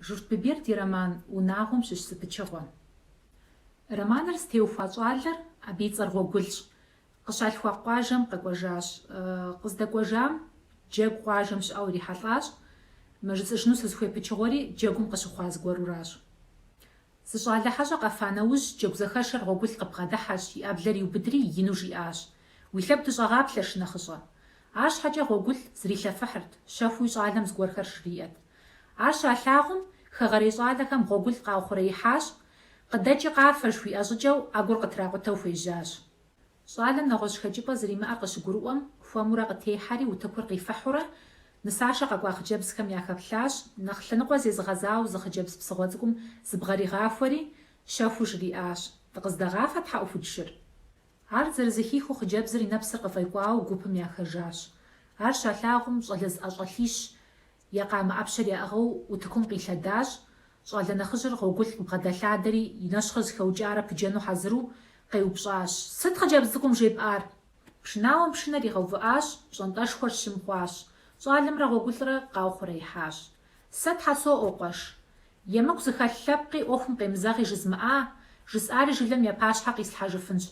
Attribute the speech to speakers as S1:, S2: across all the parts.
S1: Журт Биберд и роман Унагъуэм щыщ зы пычыгъуэщ. Романыр зытеухуа щӏалэр, абы и цӏэр Гъуэгулщ, къыщалъхуа къуажэм къэкӏуэжащ. Къыздэкӏуэжам Джэгу къуажэм щыӏэу ирихьэлӏащ. Мы жысӏэжыну сызыхуей пычыгъуэри Джэгум къыщыхъуа зыгуэруращ. Зы щӏалэ хьэщӏэ къэфа нэужь, Джэгузэхэшэр Гъуэгул къыбгъэдыхьэщ, и ӏэблэр иубыдри, ину жиӏащ, Уи лъэгу дыщӏэгъаплъэ, шынэхъыщӏэ! Арщхьэкӏэ Гъуэгул зрилъэфыхьырт, щэхууи щӏалэм зыгуэрхэр жриӏэт. Ар щалъагъум, хэгъэрей щӏалэхэм Гъуэгул къаухъуреихьащ, Къыдэкӏи къафэ! жыхуиӏэ щӏыкӏэу ӏэгур къытракъутэу хуежьащ. Щӏалэм нэгъуэщӏ хэкӏыпӏэ зэримыӏэр къыщыгурыӏуэм, хуэмурэ къытехьэри, утыкур къифыхьурэ, нысашэ къэкӏуа хъыджэбзхэм яхэплъащ, нэхъ лъэныкъуэ зезыгъэзауэ зы хъыджэбз псыгъуэ цӏыкӏум зыбгъэригъахуэри, щэхуу жриӏащ, Дыкъыздэгъафэ тхьэӏухудшыр? Ар зэрызэхихыу хъыджэбзыр и нэпсыр къыфӏекӏуауэ гупым яхэжащ. Ар щалъагъум, щӏалэ зыӏэщӏэлъищ Я къамэ ӏэпщэр яӏыгъыу утыкум къилъэдащ, щӏалэ нэхъыжьыр Гъуэгул къыбгъэдэлъадэри, и нэщхъыр зэхэукӏарэ пыджэну хьэзыру, къеупщӏащ, Сыт хъыджэбз цӏыкӏум жепӏар? Пшынауэм пшынэр игъэувыӏащ, пщӏантӏэшхуэр щым хъуащ. Щӏалэмрэ Гъуэгулрэ къаухъуреихьащ. Сэ Тхьэ соӏуэ, къуэш. Емыкӏу зыхэлъ лъэпкъи ӏуэхум къемызэгъи жызмыӏа, жысӏари жылэм я пащхьэ къислъхьэжыфынщ.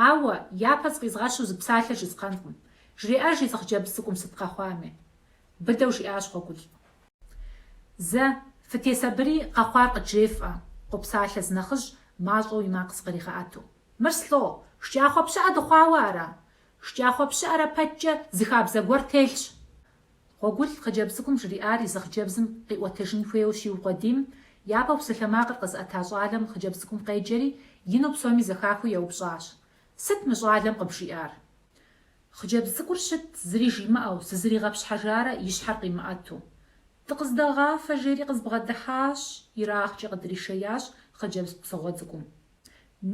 S1: Ауэ, япэ зыкъизгъэщу зы псалъэ жысӏэнкъым. Жреӏэж езы хъыджэбз цӏыкӏум сыт къэхъуами. Быдэу жиӏащ Гъуэгул. Зэ, фытесабыри, къэхъуар къыджефӏэ, къопсалъэ зы нэхъыжь, мащӏэу и макъ зыкъригъэӏэту. Мыр слӏо, шкӏахъуэ пщыӏэ дыхъуауэ ара? Шкӏахъуэ пщыӏэрэ пэткӏэ зы хабзэ гуэр телъщ. Гъуэгул хъыджэбз цӏыкӏум жриӏар езы хъыджэбзым къиӏуэтыжын хуейуэ щиукъуэдийм, япэу псалъэмакъыр къэзыӏэта щӏалэм хъыджэбз цӏыкӏум къеджэри, ину псоми зэхахыу еупщӏащ, Сыт мы щӏалэм къыбжиӏар? Хъыджэбз цӏыкӏур щытт зыри жимыӏэу, зызэригъэпщхьэжарэ и щхьэр къимыӏэту. Дыкъыздэгъафэ, жери къызбгъэдыхьащ, ерагъкӏэ къыдришеящ хъыджэбз псыгъуэ цӏыкӏум.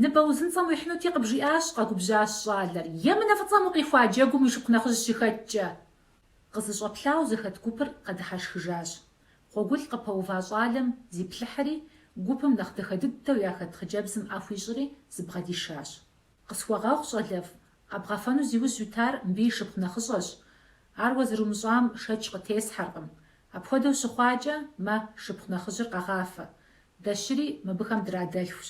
S1: Ныбэ узынцӏэм уихьынути къыбжиӏащ, къэгубжьащ щӏалэр, емынэ фӏыцӏэм укъихуа джэгум уи шыпхъу нэхъыжь щыхэткӏэ. Къызэщӏэплъауэ зэхэт гупыр къэдыхьэшхыжащ. Гъуэгул къыпэува щӏалэм зиплъыхьри, гупым нэхъ дахэ дыдэу яхэт хъыджэбзым ӏэ хуищӏри, зыбгъэдишащ. Къысхуэгъэгъу, щӏалэфӏ, къэбгъэфэну зи ужь уитар мыбы и шыпхъу нэхъыщӏэщ. Ар уэ зэрумыщӏам шэч къытесхьэркъым. Апхуэдэу щыхъуакӏэ, мэ, шыпхъу нэхъыжьыр къэгъафэ. Дэ щыри мыбыхэм драдэлъхущ.